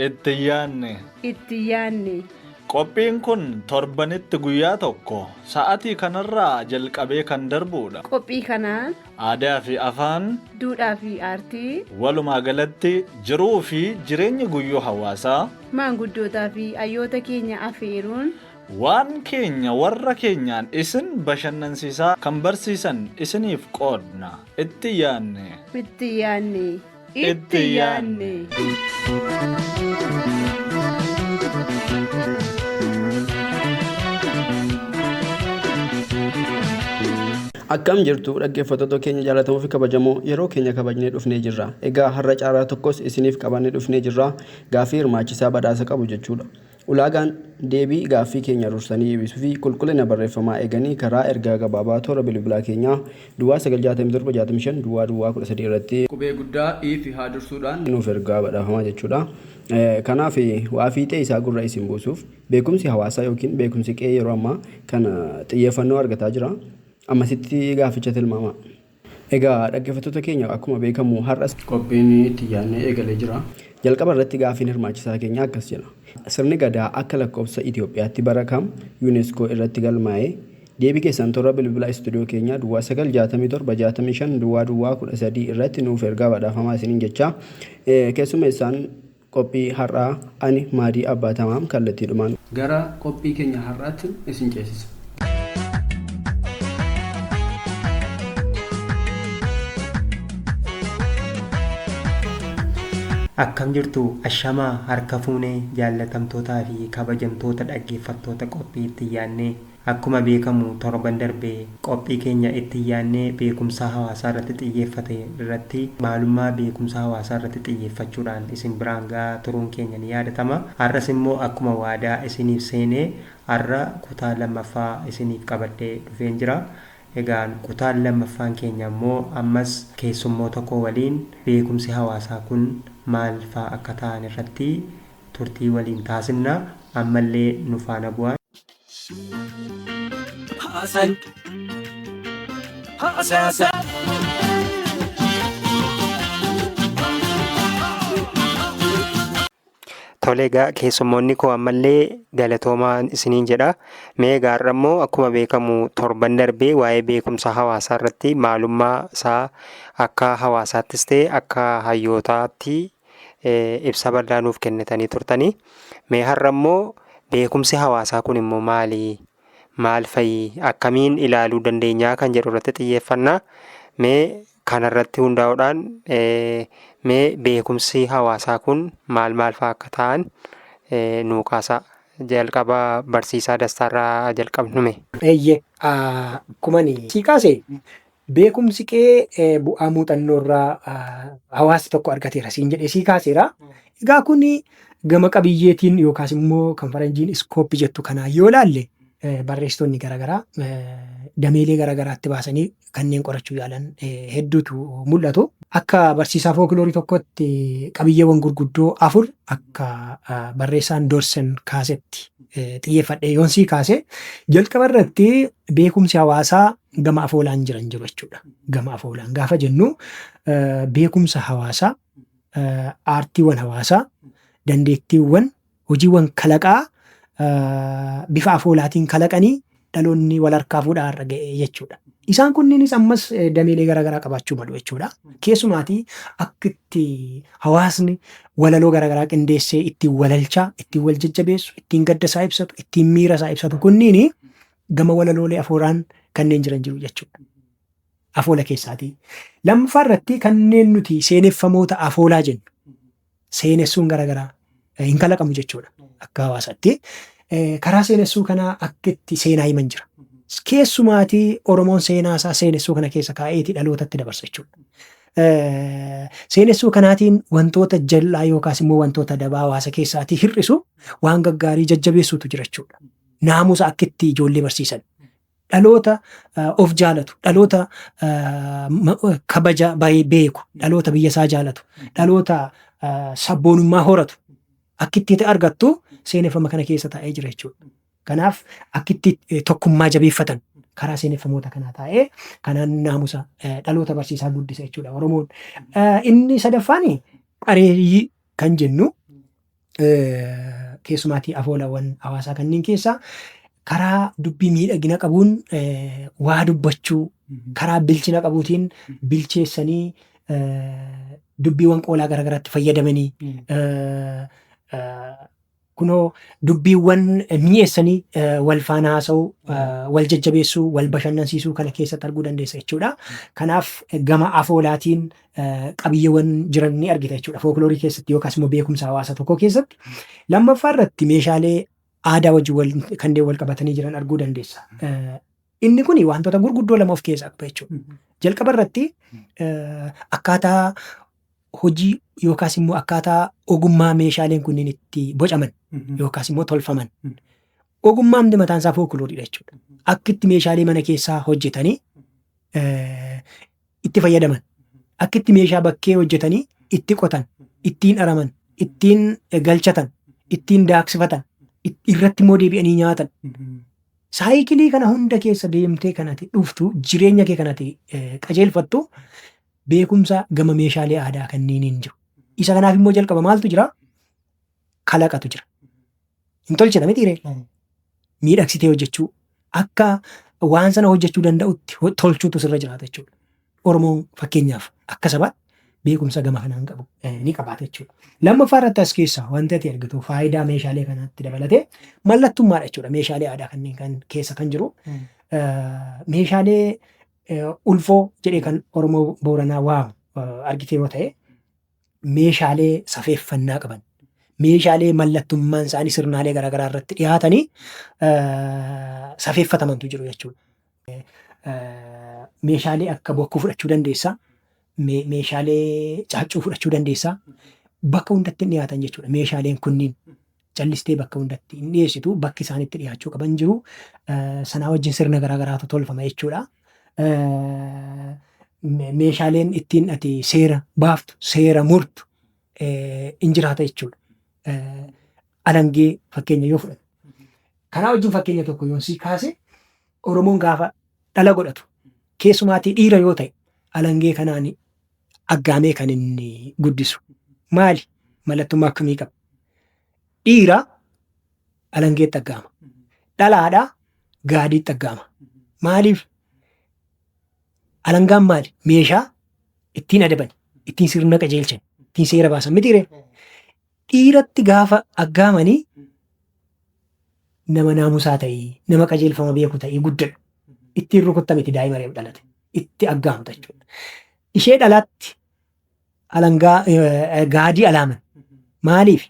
Itti yaanne. Itti yaanne. Qophiin kun torbanitti guyyaa tokko sa'atii kanarraa jalqabee kan darbuudha. Qophii kanaan Aadaa fi Afaan. Duudhaa fi Aartii. Walumaa galatti jiruu fi jireenya guyyuu hawaasaa. Maanguddootaa fi hayyoota keenya afeeruun. Waan keenya warra keenyaan isin bashannansiisaa kan barsiisan isiniif qoodna. Itti yaadne. Itti yaadne. itti yaanne. Akkam jirtu dhaggeeffattoota keenya jaallatamoo fi kabajamoo yeroo keenya kabajnee dhufnee jirra. Egaa har'a caaraa tokkos isiniif qabannee dhufnee jirra. Gaaffii hirmaachisaa badhaasa qabu jechuudha. Ulaagaan deebii gaaffii keenya dursanii deebisuu fi qulqullina barreeffamaa eeganii karaa ergaa gabaabaa toora bilbilaa keenyaa duwwaa 9 67 65 duwwaa duwwaa 13 irratti qubee guddaa i fi haa dursuudhaan. nuuf ergaa badhaafamaa jechuudha. Kanaaf waa fiixee isaa gurra isin buusuuf beekumsi hawaasaa ykn beekumsi qe'ee yeroo ammaa kana xiyyeeffannoo argataa jira. Ammasitti gaafficha tilmaamaa. Egaa dhaggefattoota keenya akkuma beekamu har'as. qophiin itti yaadne eegalee jira. Jalqaba irratti gaaffiin hirmaachisaa keenyaa akkas jedha. Sirni Gadaa akka lakkoofsa Itiyoophiyaatti bara kam Unesco irratti galmaa'e? Deebii keessan toora bilbila istuudiyoo keenyaa duwwaa 9 67 65 duwwaa duwwaa 13 irratti nuuf ergaa badhaafamaa isiniin jechaa keessummeessaan Qophii har'aa Ani Maadii Abbaa Tamaam kallattiidhumaan. Gara qophii keenya har'aattin isin ceesisa. Akkam jirtu ashamaa harka fuunee jaallatamtootaa fi kabajamtoota dhaggeeffattoota qophii ittiin yaadnee. Akkuma beekamu torban darbe qophii keenya itti yaadnee beekumsaa hawaasaa irratti xiyyeeffate irratti maalummaa beekumsa hawaasaa irratti xiyyeeffachuudhaan isin biraan ga'aa turuun keenya ni yaadatama. Har'as immoo akkuma waadaa isiniif seene har'a kutaa lammaffaa isiniif qabadhee dhufeen jira. Egaan kutaan lammaffaan keenya immoo ammas keessummoota koo waliin beekumsi hawaasaa kun maal faa akka ta'an irratti turtii waliin taasifna. Ammallee nu faana bu'aa. Haasaan. Haasaasaa. Tole egaa keessummoonni koo ammallee galatoomaa isiniin jedha. Mee egaa har'a immoo akkuma beekamu torban darbee waa'ee beekumsa hawaasaa irratti maalummaa isaa akka hawaasaattis ta'e akka hayyootaatti ibsa bal'aa nuuf kennitanii turtanii mee har'a immoo beekumsi hawaasaa kun immoo maali maal fa'i akkamiin ilaaluu dandeenyaa kan jedhu irratti xiyyeeffannaa mee kanarratti hundaa'uudhaan mee beekumsi hawaasaa kun maal maal fa'a akka ta'an nuu kaasaa jalqaba barsiisaa dastaarraa jalqabnume. Eeyye kumani sii kaase Beekumsi kee bu'aa muuxannoo irraa hawaasni tokko argateera siin jedhee sii kaaseera. Egaa kun gama qabiyyeetiin yookaas immoo kan faranjiin iskooppi jettu kanaan yoo ilaalle barreessitoonni garaagaraa dameelee garaagaraatti baasanii kanneen qorachuu yaalan hedduutu mul'atu. Akka barsiisaa fookiloorii tokkotti qabiyyeewwan gurguddoo afur akka barreessaan Dorsen kaasetti xiyyeeffadhee yoon sii kaase jalqaba irratti beekumsi hawaasaa gama afoolaan jiran jiru jechuudha. Gama afoolaan gaafa jennu beekumsa hawaasaa, aartiiwwan hawaasaa, dandeettiiwwan, hojiiwwan kalaqaa bifa afoolaatiin kalaqanii dhaloonni wal harkaa fuudhaa irra ga'e jechuudha. Isaan kunniinis ammas dameelee garaagaraa qabaachuu malu jechuudha. Keessumaatii akka itti hawaasni walaloo garaagaraa qindeessee ittiin walalchaa, ittiin wal jajjabeessu, ittiin gadda isaa ibsatu, ittiin miira isaa ibsatu kunniin gama walaloolee afooraan kanneen jiran jiru jechuudha. Afoola keessaatii. Lammaffaa irratti kanneen nuti seeneffamoota afoolaa jennu seenessuun garaagaraa eh, hin kalaqamu jechuudha akka hawaasaatti. Eh, Karaa seenessuu kanaa akka itti seenaa himan jira. Keessumaatii Oromoon seenaa isaa seenessuu kana keessa kaa'eeti dhalootatti dabarsa jechuudha. Eh, Seenessuu kanaatiin wantoota jal'aa yookaas immoo wantoota dabaa hawaasa keessaatii hir'isu waan gaggaarii jajjabeessuutu jira jechuudha. naamusa akka itti ijoollee barsiisan dhaloota of jaalatu dhaloota kabaja baay'ee beeku dhaloota biyya isaa jaalatu dhaloota sabboonummaa horatu akka itti argattu seeneffama kana keessa taa'ee jira jechuudha. Kanaaf akka itti tokkummaa jabeeffatan karaa seeneffamoota kanaa taa'ee kanaan naamusa dhaloota barsiisaa guddisa jechuudha Oromoon. Inni sadaffaan qareeyyii kan jennu Keessumaatii afoolawwan hawaasaa kanneen keessaa karaa dubbii miidhagina qabuun waa dubbachuu karaa bilchina qabuutiin bilcheessanii dubbiiwwan qoolaa garaagaraatti fayyadamanii kunoo dubbiiwwan mi'eessanii wal faana haasa'uu wal jajjabeessuu wal bashannansiisuu kana keessatti arguu dandeessa jechuudha. Kanaaf gama afoolaatiin qabiyyeewwan jiran ni argita jechuudha. Fookiloorii keessatti yookaas immoo beekumsa hawaasa tokkoo keessatti. Lammaffaa irratti meeshaalee aadaa wajjin kanneen wal qabatanii jiran arguu dandeessa. Inni kun wantoota gurguddoo lama of keessaa qaba jechuudha. Jalqaba irratti akkaataa hojii yookaas immoo akkaataa ogummaa meeshaaleen kunniin itti bocaman yookaas immoo tolfaman. Ogummaa inni mataan isaa fookilooridha jechuudha. Akka itti meeshaalee mana keessaa hojjetanii itti fayyadaman. Akka itti meeshaa bakkee hojjetanii itti qotan, ittiin araman, ittiin galchatan, ittiin daaksifatan, irratti immoo deebi'anii nyaatan. Saayikilii kana hunda keessa deemtee kanati dhuftu jireenya kee kanati qajeelfattu beekumsa gama meeshaalee aadaa kanniiniin jiru. Isa kanaaf immoo jalqaba maaltu jira? Kalaqatu jira. Hin tolchina miti ree? Miidhagsitee hojjechuu akka waan sana hojjechuu danda'utti ho- tolchuutu sirra jiraata jechuudha. Oromoo fakkeenyaaf akka sabaa beekumsa gama kanaan qabu eh, ni qabaata jechuudha. Lammaffaa irratti as keessaa wanti ati argitu faayidaa meeshaalee kanaatti dabalatee mallattummaadha jechuudha. Meeshaalee aadaa kanneen kan keessa kan jiru Mm. eh, meeshaalee eh, ulfoo jedhee kan Oromoo Booranaa waamu eh, argitee yoo ta'e meeshaalee safeeffannaa qaban, meeshaalee mallattummaan isaanii sirnaalee garaagaraa irratti dhiyaatanii safeeffatamantu jiru jechuudha. Meeshaalee akka bokkuu fudhachuu dandeessaa, meeshaalee caaccuu fudhachuu dandeessaa, bakka hundatti dhiyaatan jechuudha meeshaaleen kunniin. callistee bakka hundatti hin dhiyeessitu. Bakki isaan itti dhiyaachuu qaban jiru. Sanaa wajjin sirna garaa garaatu tolfama jechuudha. Meeshaaleen ittiin ati seera baaftu, seera murtu hin jiraata jechuudha. Alangee fakkeenya yoo fudhatu. Kanaa wajjin fakkeenya tokko yoon sii kaase Oromoon gaafa dhala godhatu keessumaatii dhiira yoo ta'e alangee kanaan aggaamee kan inni guddisu. Maali? Mallattummaa akkamii qaba? Dhiira alangeetti aggaama. Dhalaadha gaadiitti aggaama. Maaliif? Alangaan maali? Meeshaa ittiin adabani, ittiin sirna qajeelchan, ittiin seera baasan mitiiree? Dhiiratti gaafa aggaamani nama naamusaa ta'ii, nama qajeelfama beeku ta'ii guddadhu. Ittiin rukutta miti daa'ima reef dhalate. Itti aggaamta jechuudha. Ishee dhalaatti alangaa eh, gaadii alaaman. Maaliif?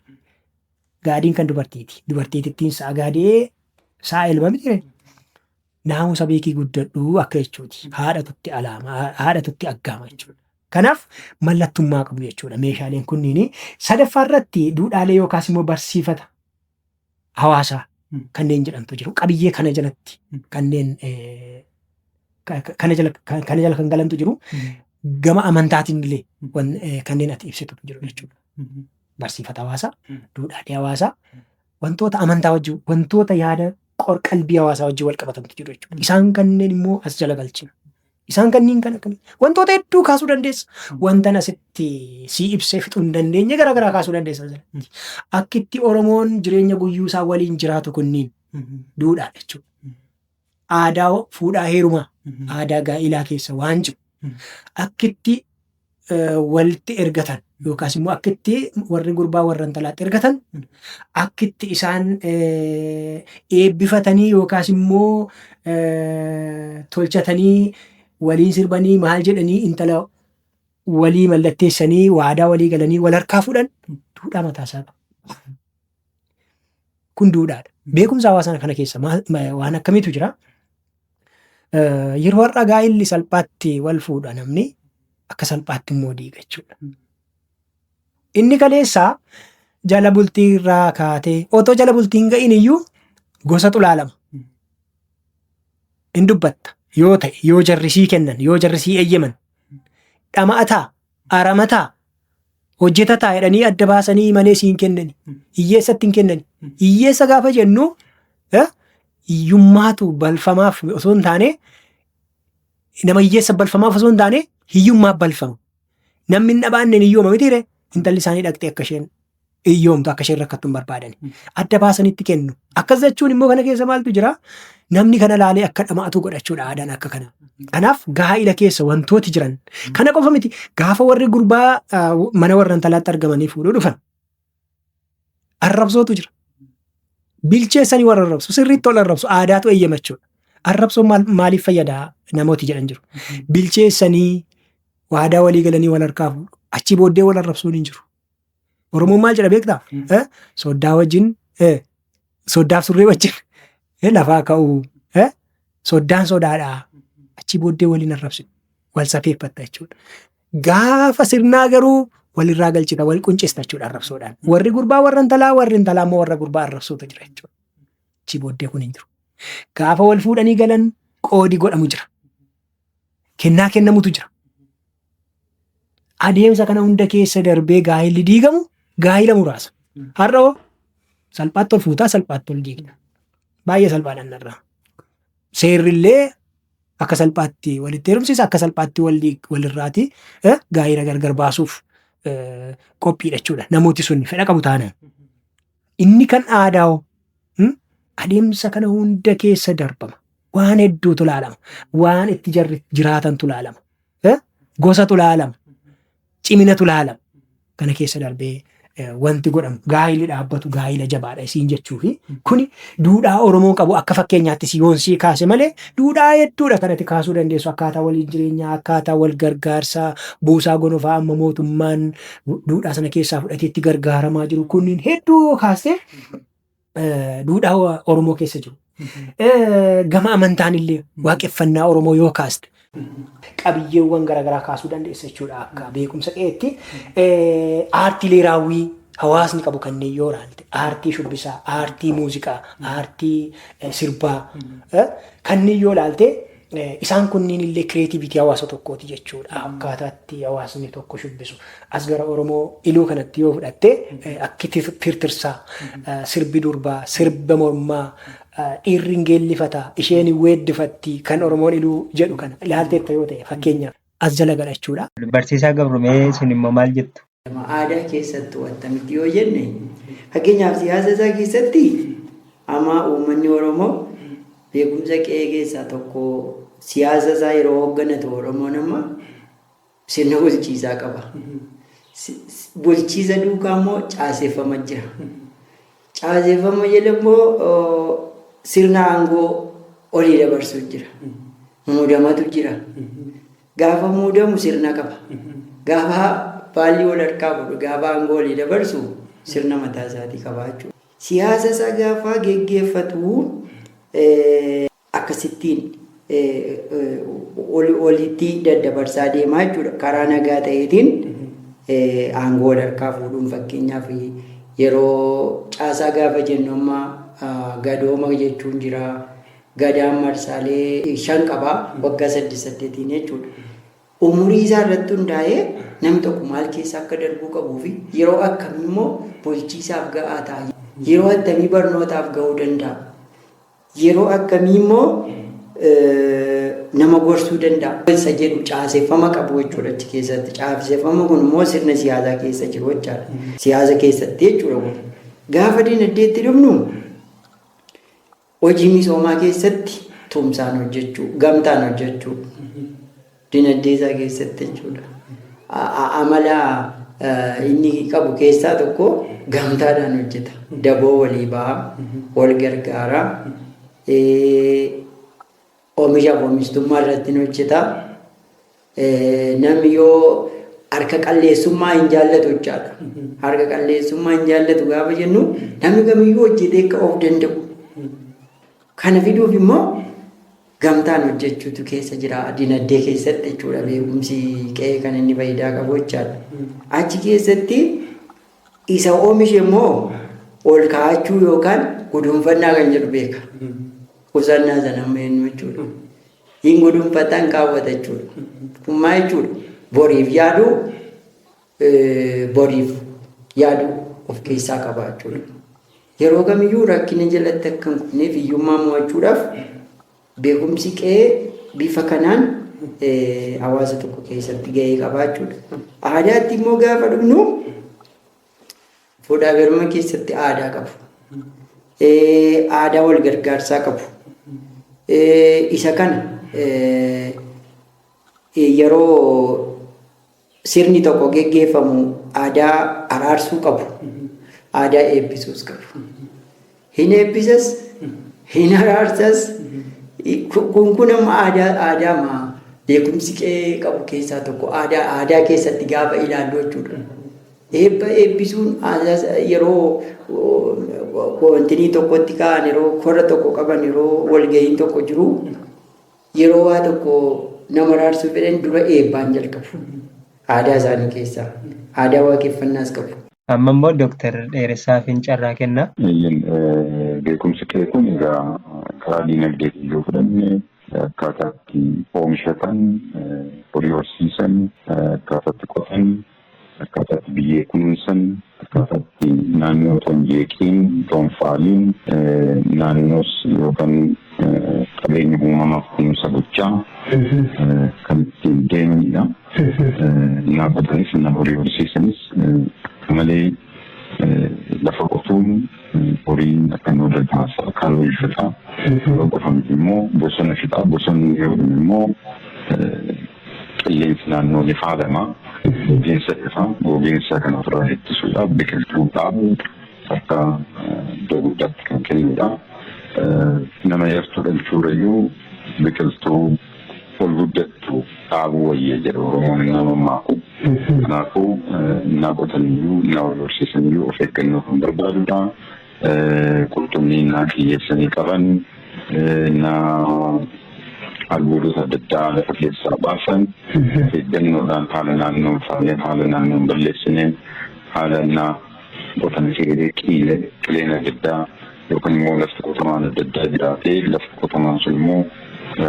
Gaadiin kan dubartiiti. Dubartiitittiin sa'a gaadi'ee sa'a elma miti ree. Naamusa beekii guddadhu akka jechuuti. Haadhatutti alaama, haadhatutti aggaama jechuudha. Kanaaf mallattummaa qabu jechuudha meeshaaleen kunniin. Sadaffaa irratti duudhaalee yookaas immoo barsiifata hawaasaa kanneen jedhamtu jiru. Qabiyyee kana jalatti kanneen eh, ka- ka- kana jala ka- kana jala kan galantu jiru. Gama amantaatiin illee wan- eh, kanneen ati ibsitu jiru jechuudha. Barsiifata hawaasaa, duudhaalee hawaasaa, Wantoota amantaa wajjin, wantoota yaada qor-qalbii hawaasaa wajjin wal qabatantu jiru jechuudha. Isaan kanneen immoo as jala galchina. Isaan kanneen kan akkamii? Wantoota hedduu kaasuu dandeessa. Wantan asitti sii ibsee fixuu hin dandeenye gara garaa kaasuu dandeessa. asirratti. Akkitti Oromoon jireenya guyyuu isaa waliin jiraatu kunniin duudhaadha jechuudha. aadaa fuudhaa heerumaa, aadaa gaa'ilaa keessa waan jiru akkitti eh, walitti ergatan yookaas immoo akkitti warri gurbaa warra intalaatti ergatan akkitti isaan eh, eebbifatanii yookaas immoo eh, tolchatanii waliin sirbanii maal jedhanii intala walii mallatteessanii waadaa walii galanii wal harkaa fuudhan duudhaa mataa isaa qaba. Kun duudhaadha. Beekumsa hawaasaa kana keessa waan akkamiitu jira? Yeroo har'a gaa'illi salphaatti wal fuudha namni akka salphaatti immoo diiga jechuudha. Inni kaleessaa jala bultii irraa kaatee otoo jala bultii hin ga'iin iyyuu gosa xulaalama. In dubbatta yoo ta'e yoo jarrisii kennan yoo jarrisii eeyyaman dhama'ataa aramataa, hojjetataa jedhanii adda baasanii malee siin kennani. Hiyyeessatti hin kennani. Hiyyeessa gaafa jennu eh, hiyyummaatu balfamaaf osoo hin taane nama hiyyeessa balfamaaf osoo hin taane hiyyummaa balfama. Namni hin dhabaanne hin hiyyooma mitiire intalli isaanii dhaqxee akka isheen hiyyoomtu akka isheen rakkattu hin barbaadani. Adda baasanitti kennu. Akkas jechuun immoo kana keessa maaltu jira? Namni kana laalee akka dhama'atu godhachuudha aadaan akka kana. Kanaaf gaa'ila keessa wantooti jiran. Kana qofa miti gaafa warri gurbaa ah, mana warra intalaatti argamanii fuudhuu dhufan. Arrabsootu jira. Bilcheessanii warra arrabsu sirriitti ol arrabsu aadaatu eeyyamachuudha. Arrabsoon maal- maaliif fayyadaa namooti jedhan jiru. Bilcheessanii waadaa walii galanii wal harkaa fuudhu. Achi booddee wal arrabsuun hin jiru. Oromoon maal jedha beektaa? Eh, Soddaa wajjin eh, soddaaf surree wajjin eh, lafaa ka'uu eh, soddaan sodaadhaa achi booddee waliin arrabsitu wal safeeffatta jechuudha. Gaafa sirnaa garuu walirraa galchita wal quncista jechuudha arrabsoodhaan. Warri gurbaa warra intalaa warri intalaa immoo warra gurbaa arrabsootu jira jechuudha. Achi booddee kun hin jiru. Gaafa wal fuudhanii galan qoodi godhamu jira. kennaa kennamutu jira. Adeemsa kana hunda keessa darbee gaa'illi diigamu gaa'ila muraasa. Har'a hoo salphaatti ol fuutaa salphaatti ol diigna. Baay'ee salphaadhaan narraa. Seerrillee akka salphaatti walitti heerumsiisa akka salphaatti wal diig- walirraati eh, gaa'ila gargar baasuuf eh, qophiidha jechuudha. Namooti sun fedha qabu taanaan. Inni kan aadaa hoo? Hmm? Adeemsa kana hunda keessa darbama. Waan hedduutu laalama. Waan itti jarri jiraatantu laalama. Eh? Gosatu laalama. Ciminatu laalama. Kana keessa darbee eh, wanti godhamu gaa'illi dhaabbatu gaa'ila jabaadha isiin jechuufi kuni duudhaa Oromoon qabu akka fakkeenyaatti si yoon sii kaase malee duudhaa hedduudha kanatti kaasuu dandeessu akkaataa waliin jireenyaa akkaataa wal gargaarsaa buusaa gonofaa amma mootummaan duudhaa sana keessaa fudhatee itti gargaaramaa jiru kunniin hedduu yoo kaaste eh, duudhaa wa- Oromoo keessa jiru. Eh, Gama amantaan illee waaqeffannaa Oromoo yoo kaaste qabiyyeewwan garaagaraa kaasuu dandeessa jechuudha akka beekumsa qe'eetti. Eh, Aartiilee raawwii hawaasni qabu kanneen yoo ilaalte aartii shubbisaa, aartii muuziqaa, aartii eh, sirbaa eh, kanneen yoo ilaalte Isaan kunniin illee kireetiiviitii hawaasa tokkooti jechuudha. Akkaataa itti hawaasni tokko shubbisu. As gara Oromoo iluu kanatti yoo fudhatte akki tirtirsaa, sirbi durbaa, sirba mormaa, dhiirri hin geellifata, isheen hin weeddifatti kan Oromoon iluu jedhu kana ilaalteetta yoo ta'e fakkeenyaaf. as jala galachuudha. Barsiisaa Gabrumee isin immoo maal jettu? Aadaa keessattuu attamitti yoo jenne fakkeenyaaf siyaasa isaa keessatti amma uummanni Oromoo beekumsa qe'ee keessaa tokko siyaasa isaa yeroo hoogganatu Oromoon amma sirna bulchiisaa qaba. Bulchiisa duukaa immoo caaseffama jira. Caaseffama jala immoo sirna aangoo olii dabarsuu jira. Muudamatu jira. Gaafa muudamu sirna qaba. Gaafa baallii wal harkaa fuudhu gaafa aangoo olii dabarsu sirna mataa isaatii qaba jechuudha. Siyaasa isaa gaafa geggeeffatu akkasittiin oli olitti daddabarsaa deemaa jechuudha. Karaa nagaa ta'eetiin aangoo wal harkaa fuudhuun fakkeenyaaf yeroo caasaa gaafa jennu amma gadooma jechuun jira. Gadaan marsaalee shan qaba waggaa saddeet saddeetiin jechuudha. Umurii isaa irratti hundaa'ee namni tokko maal keessa akka darbuu qabuu fi yeroo akkamii immoo bulchiisaaf ga'aa ta'a. Yeroo attamii barnootaaf ga'uu danda'a. Yeroo akkamii immoo nama gorsuu danda'a? Isa jedhu caaseffama qabu jechuudha achi keessatti. Caaseffama kun immoo sirna siyaasaa keessa jiru jechaadha. Siyaasa keessatti jechuudha kun. Gaafa dinagdeetti dhufnu hojii misoomaa keessatti tumsaan hojjechuu, gamtaan hojjechuu. Dinagdee isaa keessatti jechuudha. Amala inni qabu keessaa tokko gamtaadhaan hojjeta. Daboo walii ba'a, wal gargaara, oomishaaf oomishtummaa irratti ni hojjeta. Namni yoo harka qalleessummaa hin jaallatu jechaadha. Harka qalleessummaa hin jaallatu gaafa jennu namni kamiyyuu hojjetee akka of danda'u. Kana fiduuf immoo Gamtaan hojjechuutu keessa jira. Dinagdee keessatti jechuudha beekumsi qe'ee kan inni faayidaa qabu jechaadha. Achi keessatti isa oomishe immoo ol kaa'achuu yookaan gudunfannaa kan jedhu beeka. Qusannaa sana amma eenyu jechuudha. Hin gudunfata hin kaawwata jechuudha. Kun maal jechuudha? Boriif yaaduu eh, boriif yaaduu of keessaa qaba jechuudha. Yeroo kamiyyuu rakkina jalatti akka hin kufneef hiyyummaa mo'achuudhaaf beekumsi qe'ee bifa kanaan hawaasa tokko keessatti gahee qabaa jechuudha. Aadaatti immoo gaafa dhufnu fuudhaa heeruma keessatti aadaa qabu. Aadaa wal gargaarsaa qabu. Isa kana yeroo Sirni tokko geggeeffamu aadaa araarsuu qabu, aadaa eebbisuus qabu. Hin eebbisas, hin araarsas, kun kun amma aadaa aadaa maa beekumsi qe'ee qabu keessaa tokko aadaa aadaa keessatti gaafa ilaallu jechuudha. Eebba eebbisuun aadaa yeroo wantinii tokkotti ka'an yeroo korra tokko qaban yeroo walga'iin tokko jiru Yeroo waa tokko nama araarsuu fedhan dura eebbaan jalqabu. Aadaa isaanii keessaa. Aadaa waaqeffannaas qabu. Amma immoo Doktar Dheeressaafiin carraa kenna. Eeyyen beekumsi kee kun egaa karaa diinagdeetiin yoo fudhanne akkaataa itti oomishatan, horii horsiisan, akkaataa itti qotan, Akkaataa itti biyyee kunuunsan, akkaataa itti naannoo otoo hin jeeqiin, otoo hin faaliin naannoos yookaan qabeenya uumamaaf kunuunsa gochaa kan ittiin deemaniidha. Qonnaan bulaanis qonnaan horii horsiisanis malee lafa qotuun horiin akka hin oolle taasisa. Akka loon fixaa, loon qofa miti immoo bosona fixaa, bosonni yoo dhume immoo Qilleensi naannoo ni faalama. Gogiinsa ifa gogiinsa kana ofirraa ittisuudhaaf biqiltuu dhaabuun akka iddoo guddaatti kan kennuudha. Nama yartuu dhalchuurrayyuu biqiltuu ol guddattu dhaabuu wayya jedha Oromoon innaa mammaaku. Kanaafuu innaa qotaniyyuu innaa wal horsiisaniyyuu of eeggannoo kan barbaaduudha. qurxummii innaa qiyyeessanii qaban, innaa albuudota adda addaa lafa keessaa baasan eeggannoodhaan haala naannoo hin faaneen, haala naannoo hin balleessineen, haala innaa qotan seelee qiile, qileen adda addaa yookaan immoo lafti qotamaan adda addaa jiraatee lafti qotamaan sun immoo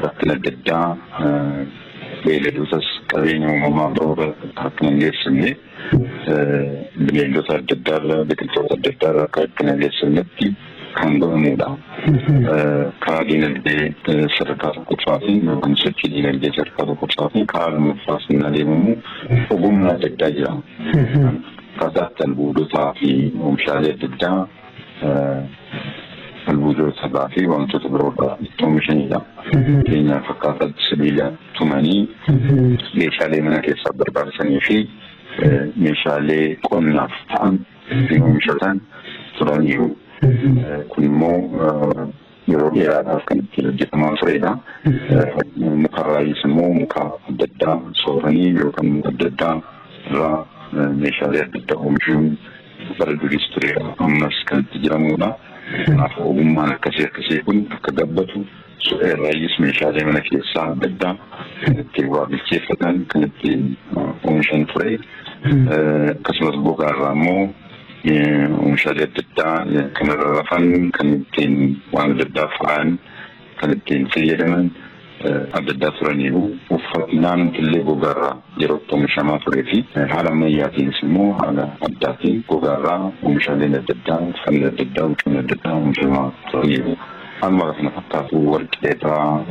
rakkina adda addaa beeyladootas qabeenya uumamaa biroo irra akka hin geessifne bineeldota adda addaa irraa biqiltoota adda addaa irraa akka itti nageessannetti kan godhamudha. Karaa diinagdee sadarkaa tokkoffaa fi yookaan sochii diinagdee sadarkaa tokkoffaa fi karaa lammaffaa sun adeemamu ogummaa adda addaa jira. Akkaataa itti albuudotaa fi oomishaalee adda addaa albuudotarraa fi wantoota biroorraa itti oomishanidha. Fakkeenyaaf akkaataa sibiila tumanii meeshaalee mana keessaaf barbaachisanii fi meeshaalee qonnaaf ta'an ittiin oomishatan turaniiru. Kun immoo yeroo dheeraadhaaf kan ittiin hojjetamaa turedha. Mukarraayis immoo muka adda addaa sooranii yookaan muka adda addaa irraa meeshaalee adda addaa oomishuun bara duriis ture ammas kan itti jiramudha. Kanaaf ogummaan akkasii akkasii kun akka gabbatu irraayis meeshaalee mana keessaa adda addaa itti waa bilcheeffatan kan itti oomishan ture. Akkasumas gogaa irraa immoo Oomishaalee adda addaa kan irra rafan, kan ittiin waan adda addaa faayan, kan ittiin fayyadaman adda addaa turaniiru. Uffannaan illee gogaarraa yeroo itti oomishamaa turee fi haala ammayyaatiinis immoo haala addaatiin gogaarraa oomishaaleen adda addaa, uffanni adda addaa, huccuun adda addaa oomishamaa turaniiru. Haaluma kana fakkaatu warqee irraa,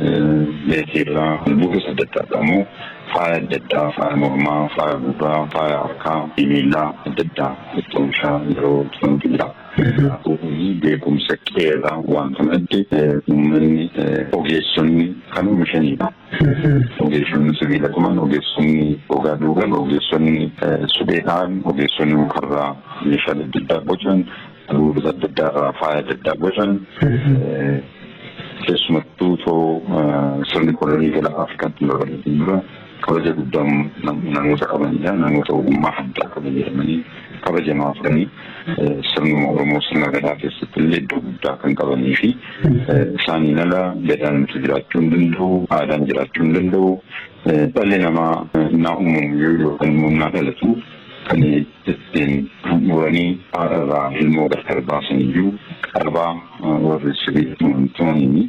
meetii irraa, albuudas adda addaa irraa immoo faaya adda addaa faaya mormaa, faaya gurraa, faaya harkaa fi miilaa adda addaa itti oomishaa yeroo turantu jira. Kanaafuu beekumsa qe'ee irraa wanta madde uummanni ogeessonni kan oomishanidha. Ogeessonni sibiila tuman, ogeessonni gogaa duugan, ogeessonni suphee dha'an, ogeessonni mukarraa meeshaalee adda addaa bocan Kanneen gosa adda addaa irraa faaya adda addaa bocan keessumattuu too sirni kolonii gara Afrikaatti hin babal'atin dura kabaja guddaa namoota qabanidha. Namoota ogummaa addaa qaban jedhamanii kabajamaa turanii sirnuma Oromoo sirna gadaa keessatti illee iddoo guddaa kan qabanii fi isaaniin ala gadaan nuti jiraachuu hin danda'u, aadaan jiraachuu hin danda'u. Dhalli namaa naa uumamu yoo yookaan immoo naa dhalatu kan ittiin handhuuranii haadha irraa ilmoo gargar baasan iyyuu qarabaa warri sirii tuman tumaniini.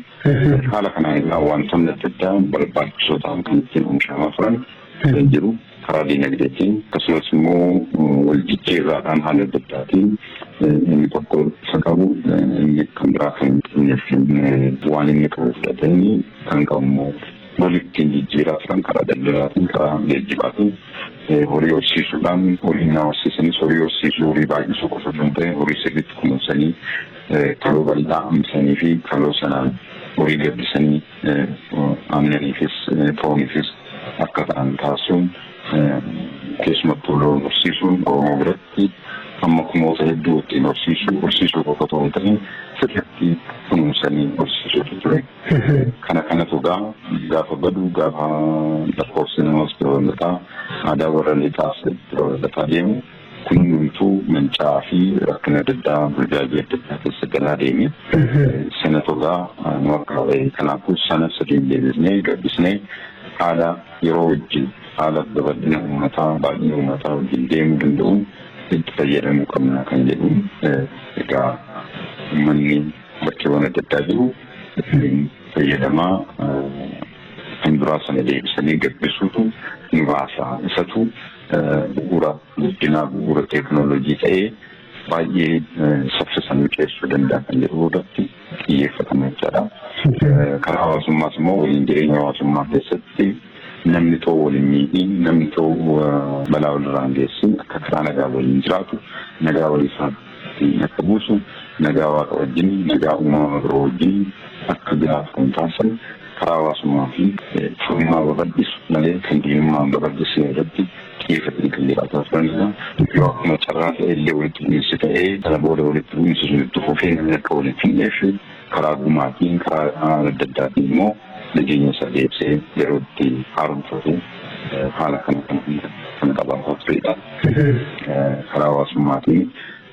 Haala kanaan egaa wantoonni adda addaa barbaachisoo ta'an kan ittiin oomishamaa turan kan jiru karaa diinagdeetiin akkasumas immoo wal jijjiirraadhaan haala adda addaatiin inni tokko isa qabu inni kan biraa kan hin qabneef waan inni qabu fudhatanii kan qabu immoo loon ittiin jijjiiraa turan karaa daldalaatiin karaa geejjibaatiin horii horsiisuudhaan horii naa horsiisanis horii horsiisuu horii baay'isuu qofa osoo hin ta'in horii sirriitti kunuunsanii kaloo bal'aa hambisanii fi kaloo sanaan horii gabbisanii aannaniifis fooniifis akka ta'an taasisuun keessumattuu loon horsiisuun Oromoo biratti fi amma kunoota hedduu ittiin horsiisuu horsiisuu qofa otoo hin ta'in sirriitti kunuunsanii horsiisuutu ture. Kana kanatu gaa gaafa badu gaafa lakkoofsi namas babal'ataa aadaa warra lixaas babal'ataa deemu kun hundumtuu manca'aa fi rakkina adda addaa burjaajii adda addaa keessa galaa deeme. Sanatu gaa nu akka kanaafuu sana sadiin deebisnee gabbisnee haala yeroo wajjin haala babal'ina ummataa, baay'ina ummataa wajjin deemuu danda'uun itti fayyadamuu qabna kan jedhu egaa ummanni bakkeewwan adda addaa jiru ittiin fayyadamaa kan duraa sana deebisanii gabbisuutu nu baasa. Isatu bu'uura guddinaa bu'uura teeknooloojii ta'ee baay'ee saffisaan mijeessuu danda'a kan jedhu irratti xiyyeeffatame jechaadha. Karaa hawaasummaas immoo waliin jireenya hawaasummaa keessatti namni too waliin miidhiin namni too balaa walirraan geessin akka karaa nagaa waliin jiraatu nagaa walii isaatti akka buusu nagaa waaqa wajjin nagaa uumama biroo wajjin akka jiraatu kan taasisan karaa hawaasummaa fi firummaa babal'isu malee kan diinummaan babal'isee irratti Keessa gallee haasofnaan isaa yoo akkuma carraa ta'e illee walitti bu'iinsi ta'ee sana booda walitti bu'iinsi sun itti fufee namni akka waliin finnee fi karaa gumaatiin karaa adda addaatiin immoo nageenya isaa deebisee yeroo itti haaromfatu haala kana kan kan qabaataa turedha. Karaa hawaasummaatiin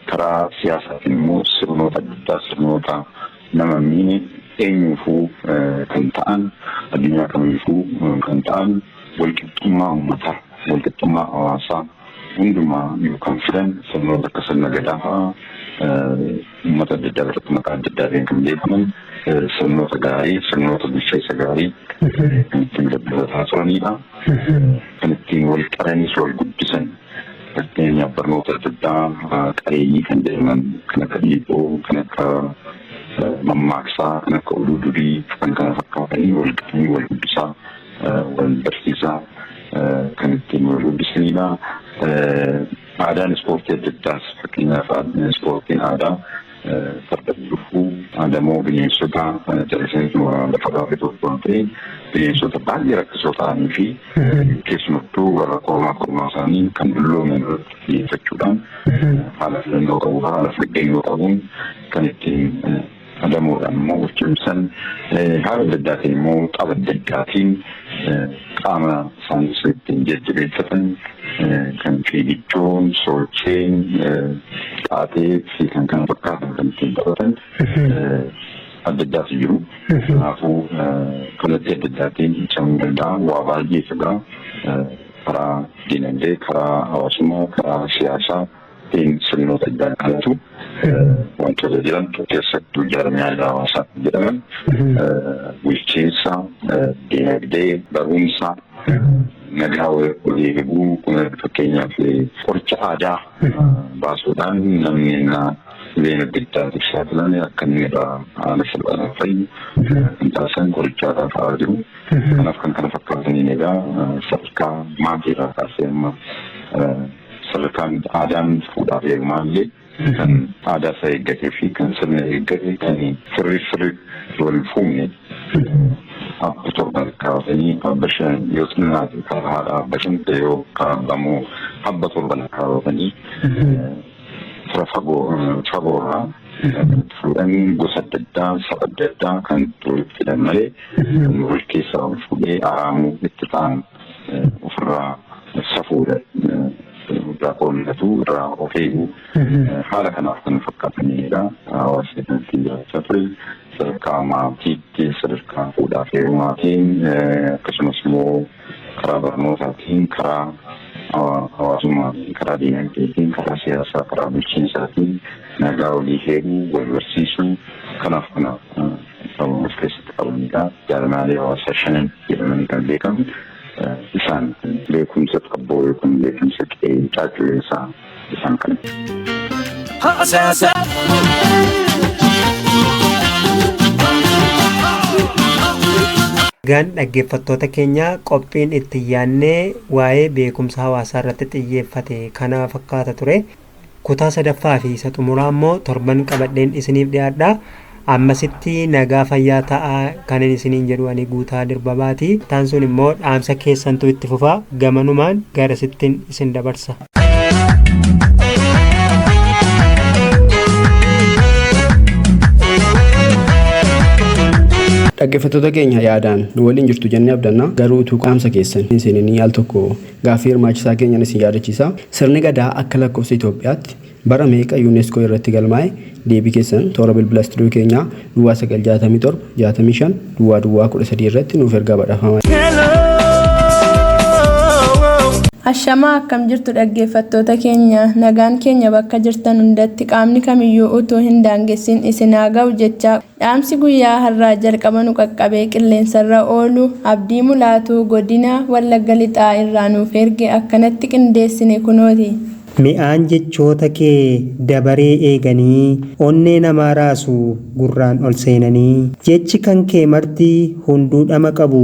Karaa siyaasaatiin immoo sirnoota adda addaa sirnoota nama hin miine eenyuufuu kan ta'an addunyaa kamiifuu kan ta'an walqixxummaa uummataa walqixxummaa hawaasaa hundumaa yoo kan fidan sirnoota akka sirna gadaa fa'aa uummata adda addaa biratti maqaa adda addaatiin kan beekaman sirnoota gaarii sirnoota bulchiinsa gaarii kan ittiin dabalataa turanidha. Kan ittiin wal qaraniis wal guddisan Fakkeenyaaf barnoota adda addaa qareeyyii kan jedhaman kan akka dhiibboo, kan akka mammaaksaa, kan akka oduu durii, kan kana fakkaatanii wal qabanii wal guddisaa, wal barsiisaa kan ittiin wal guddisanidha. Aadaan ispoortii adda addaas fakkeenyaaf ispoortiin aadaa Fardan lubbuu adamoo bineensota jallisaniitu lafa baafee tokkoon ta'e bineensota baay'ee rakkisoo ta'anii fi keessumattuu warra kormaa kormaa isaanii kan dullooman irratti xiyyeeffachuudhaan haala filannoo qabu haala faggeeyyoo qabuun kan ittiin adamoodhaan immoo of cimsan haala adda addaatiin immoo xaba adda addaatiin qaama saamsa ittiin jajjabeeffatan kan fiigiddoon, soocheen, xaatee fi kan kana fakkaatan kan ittiin taphatan adda addaatu jiru. Kanaafuu kallattii adda addaatiin ibsamuu danda'a. Waa baay'ee fedha. Karaa dinagdee, karaa hawaasummaa, karaa siyaasaa. Tiin sirnoota iddaan kanatu wantoota jedhamtu keessattuu jaarmiyaa hawaasaa kan jedhaman bulchiinsa, dinagdee, barumsa, nagaa walii eeguu fakkeenyaaf qoricha aadaa baasuudhaan namni innaa dhibee adda addaatiif saaxilame akka inni irraa haala salphaan fayyu kan taasisan qoricha aadaa fa'aa jiru. Kanaaf kan kana fakkaataniin egaa sadarkaa maatii irraa kaasee amma Sadarkaan aadaan fuudhaaf heerumaa illee kan aadaa isaa eeggatee fi kan sirna eeggate kan sirrii sirriitti wal fuune abba torban kaasanii abba shan yoo xinnaate kan haadha abba shan ta'e yoo kan abba immoo abba torban kaasanii fira fagoo fagoo irraa fuudhan gosa adda addaa saba adda addaa kan itti walitti hidhan malee kan wal keessaa wal fuudhee araamuu itti ta'an ofirraa safuudha guddaa qoonnatu irraa of eegu haala kanaaf kan fakkaatanidha hawaasa keessatti jiraachaa ture sadarkaa maatiitti sadarkaa fuudhaa fi heerumaatiin akkasumas immoo karaa barnootaatiin karaa hawaasummaatiin karaa diinagdeetiin karaa siyaasaa karaa bulchiinsaatiin nagaa walii heeruu wal barsiisuu kanaaf kanaaf kan of keessatti qabanidha. Jaarmiyaalee hawaasaa shanan jedhamanii kan beekamu isaan beekumsa xabboo yookiin beekumsa qe'ee caacculeessaa isaan kana. Haasasa. Egaan dhaggeeffattoota keenya qophiin itti yaannee waa'ee beekumsa hawaasaa irratti xiyyeeffate kana fakkaata ture. Kutaa sadaffaa fi isa xumuraa immoo torban qabadheen isiniif dhiyaadha. Ammasitti nagaa fayyaa ta'aa kanin isiniin jedhu ani guutaa dirbabaati. Taan sun immoo dhaamsa keessantu itti fufa gamanumaan garasittin isin dabarsa. Dhaggeeffattoota keenya yaadaan nu waliin jirtu jennee abdanna garuu utuu qaamsa keessan hin seeninii al tokko Gaaffii hirmaachisaa keenyan isin yaadachiisa. Sirni Gadaa akka lakkofsa Itoophiyaatti bara meeqa Unesco irratti galmaa'e? Deebii keessan toora bilbila studio keenyaa duwwaa 9 67 65 duwwaa duwwaa 13 irratti nuuf ergaa badhaafamaa. Ashamaa akkam jirtu dhaggeeffattoota keenya nagaan keenya bakka jirtan hundatti qaamni kamiyyuu utuu hin daangessin isin haa ga'u jechaa Dhaamsi guyyaa harraa jalqaba nu qaqqabee qilleensarra oolu Abdii Mulaatuu Godina Wallagga Lixaa irraa nuuf erge akkanatti qindeessine kunooti. Mi'aan jechoota kee dabaree eeganii Onnee namaa raasu gurraan ol seenanii Jechi kan kee marti hunduu dhama qabu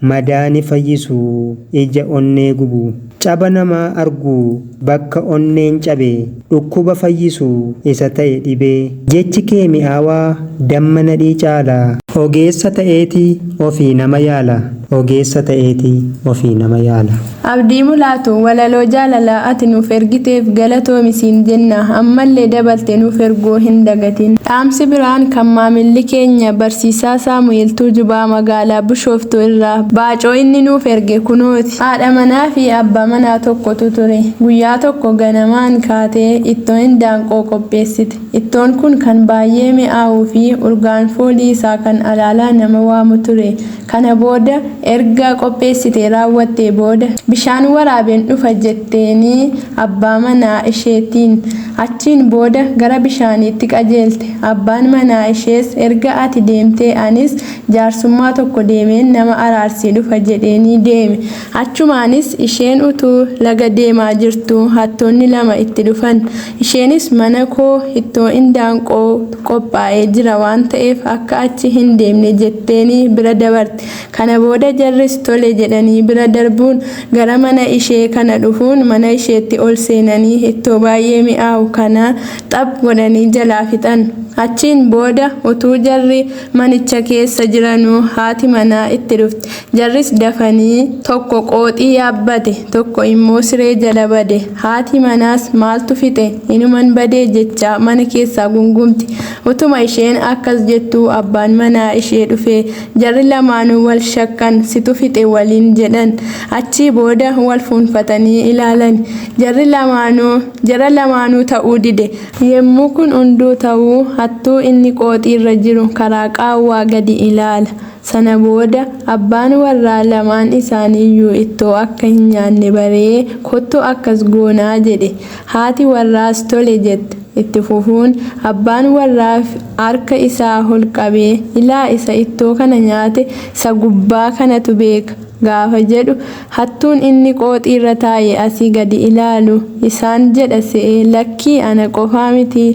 Madaa ni fayyisu Ija onnee gubu Caba namaa argu Bakka onneen cabe Dhukkuba fayyisu Isa ta'e dhibee Jechi kee mi'aawaa Damma nadhii caala. Ogeessa ta'eeti Ofii nama yaala Ogeessa ta'eeti Ofii nama yaala. Abdii Mulaatu walaloo jaalalaa ati nuuf ergiteef galatoomi siin jenna. Ammallee dabalte nuuf erguu hin dagatin. Dhaamsi biraan kan maamilli keenya Barsiisaa Saamu'eel Tuujubaa magaalaa Bishooftuu irraa Baacoo inni nuuf erge kunooti. Haadha manaa fi abbaa manaa tokkotu ture. Guyyaa tokko ganamaan kaatee ittoo indaanqoo qopheessite. Ittoon kun kan baayyee mi'aawuu fi urgaan foolii isaa kan alaalaa nama waamu ture. Kana booda erga qopheessitee raawwattee booda bishaan waraabeen dhufa jetteenii abbaa manaa isheetiin. Achiin booda gara bishaaniitti qajeelte. Abbaan manaa ishees erga ati deemtee anis jaarsummaa tokko deemeen nama araarsee dhufa jedheenii deeme. Achumaanis isheen utuu laga deemaa jirtuu hattoonni lama itti dhufan. Isheenis manakoo ittoo indaanqoo tu qophaa'ee jira waan ta'eef akka achi hindeemne jetteenii bira dabarte. Kana booda jarris tole jedhanii bira darbuun gara mana ishee kana dhufuun mana isheetti ol seenanii ittoo baay'ee mi'aawu kana xaph godhanii jalaa fixan. Achiin booda utuu jarri manicha keessa jiranuu haati manaa itti dhufte. Jarris dafanii, tokko qooxii yaabbate, tokko immoo siree jala bade. Haati manaas maaltu fixe, inuman badee jechaa mana keessaa gungumti. Utuma isheen akkas jettuu abbaan manaa ishee dhufee, jarri lamaanuu wal shakkan, situ fixe waliin jedhan. Achii booda wal fuunfatanii ilaalani. Jarri lamaanuu, jara lamaanuu ta'uu dide. Yemmuu kun hunduu ta'u, hattuu inni qooxiirra jiru karaa qaawwaa gadi ilaala. Sana booda abbaan warraa lamaan isaaniiyyuu ittoo akka hin nyaanne baree kottu akkas goonaa jedhe. Haati warraas tole jette. Itti fufuun abbaan warraa harka isaa ol qabee ilaa isa ittoo kana nyaate isa gubbaa kanatu beeka gaafa jedhu hattuun inni qooxiirra taa'e asii gadi ilaalu isaan jedha se'ee lakkii ana qofaa mitii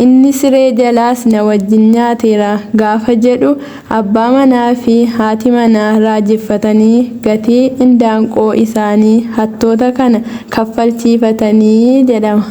Inni siree jalaas na wajjin nyaateera gaafa jedhu abbaa manaa fi haati manaa raajeffatanii gatii indaanqoo isaanii hattoota kana kaffalchiifatani jedhama.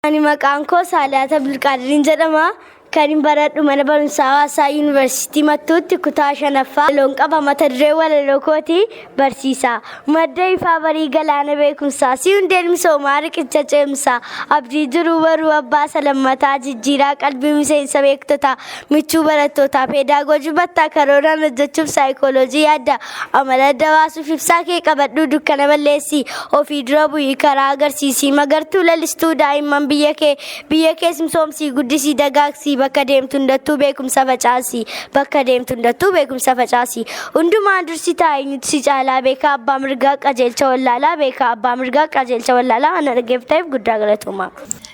Ani maqaan koo Saaliyaata Abdulqaadiriin jedhama. Kan hin baradhu mana barumsaa hawaasaa yuunivarsiitii Mattuutti kutaa shanaffaa loon qaba mata duree walaloo kooti barsiisaa. Madda ifaa barii galaana beekumsaa si hundeen misoomaa riqicha ceemsaa abdii jiruu baruu abbaa salammataa jijjiiraa qalbii miseensa beektotaa michuu barattootaa peedaagoojii battaa karooraan hojjechuuf saayikooloojii yaadda Amala adda baasuuf ibsaa kee qabadhuu dukkana balleessi. Ofii dura bu'ii karaa agarsiisii magartuu lalistuu daa'imman biyya kee biyya kees misoomsii guddisii dagaagsii bakka deemtu hundattuu beekumsa facaasi. Bakka deemtu hundattuu beekumsa facaasi. Hundumaa dursi taa'e eenyutu si caalaa beekaa abbaa mirgaa qajeelcha wallaalaa beekaa abbaa mirgaa qajeelcha wallaalaa ana dhaggeeffataniif guddaa galatoomaa.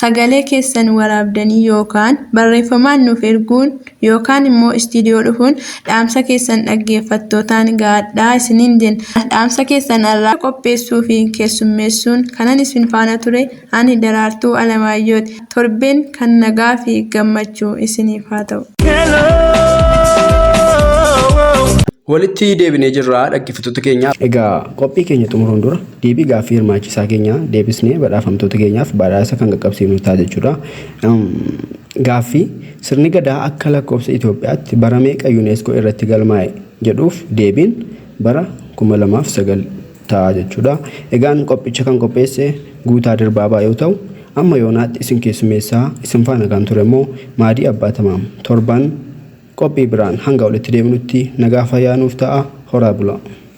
Sagalee keessan waraabdanii yookaan barreeffamaan nuuf erguun yookaan immoo istiidiyoo dhufuun dhaamsa keessan dhaggeeffattootaan ga'adhaa isiniin jenna. Dhaamsa keessan har'aa qopheessuu fi keessummeessuun kanan isin faana ture ani Daraartuu Alamaayyooti. Torbeen kan nagaa fi gammachuu isiniif haa ta'u. Walitti deebinee jirra dhaggeeffattoota keenya. Egaa qophii keenya xumuruun dura Deebii gaaffii hirmaachisaa keenyaa deebisnee badhaafamtoota keenyaaf badhaasa kan qaqqabsiifnu ta'a jechuudha. Gaaffii, Sirni Gadaa akka lakkoofsa Itoophiyaatti bara meeqa Unesco irratti galmaa'e? jedhuuf deebiin bara 2009 ta'a jechuudha. Egaan qophicha kan qopheesse Guutaa Dirbaabaa yoo ta'u, amma yoonaatti isin keessummeessaa isin faana kan ture immoo Maadii Abbaa Tamaam. Torban qophii biraan hanga walitti deebinutti nagaa fayyaa nuuf ta'aa, horaa bulaa!